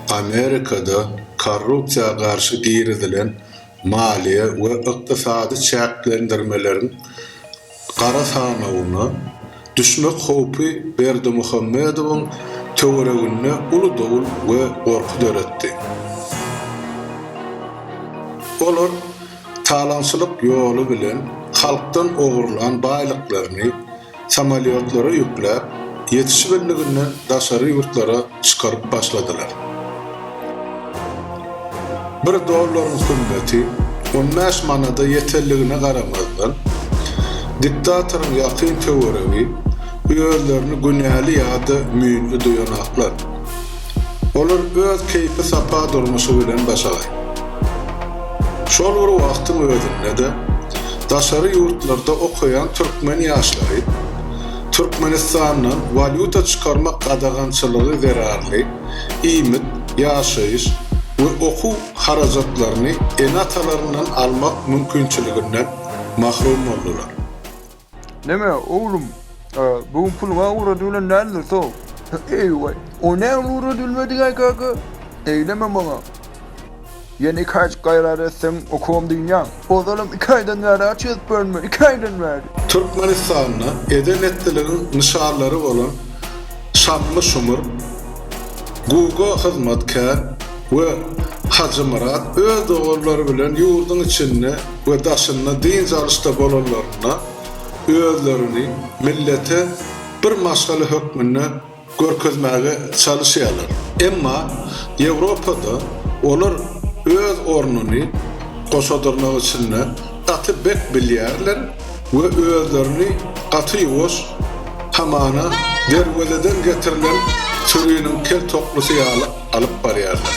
Amerikada korrupsiýa garşy girizilen maliýe we ykdysady çäklendirmeleriň gara sanawyna düşmek howpy Berdimuhamedowyň töwereginde uly dowul we gorky döretdi. Olar talaňçylyk ýoly bilen halkdan ogurlan baýlyklaryny, samolýotlara ýükläp, ýetişibildiginden daşary ýurtlara çykaryp başladylar. Bir dollaryň hümmeti on bäş manada ýetenligine garamazdan, diktatoryň ýakyn töweregi özlerini günäli ýa-da müýnli duýanoklar. Olar öz keýpi-sapa durmuşy bilen başagaý. Şol bir wagtyň özünde-de, daşary ýurtlarda okaýan türkmen ýaşlary Türkmenistandan walýuta çykarmak gadagançylygy zerarly iýmit, ýaşaýyş we okuw harajatlaryny ene-atalaryndan almak mümkinçiliginden mahrum boldular. Näme, oglum, bu gün puluňa ugra düwlen däldir, so. Eý-we, o näme ugra düwülmedik-aý, kaka? Eýleme maňa. Ýene iki aýjyk gaýrat etseň, okawam dynýaň. Ozalam iki aýdan bäri aç ýatypbyryn men, iki aýdan bäri. Türkmenistanda eden-etdiligiň nyşanlary bolan Şamly Şumur, Guga hyzmatkär we Hajymyrat öz doganlary bilen ýurduň içinde, we daşynda dynç alyşda bolanlarynda özlerini millete bir maşgala hökmünde görkezmäge çalyşýarlar. Emma Ýewropada olar öz ornuny goşadyrnak içinde gaty bek bilýärler we özlerini gaty ýuwaş, hamana, derwezeden getirilen süriniň kel toklusy ýaly alyp barýarlar.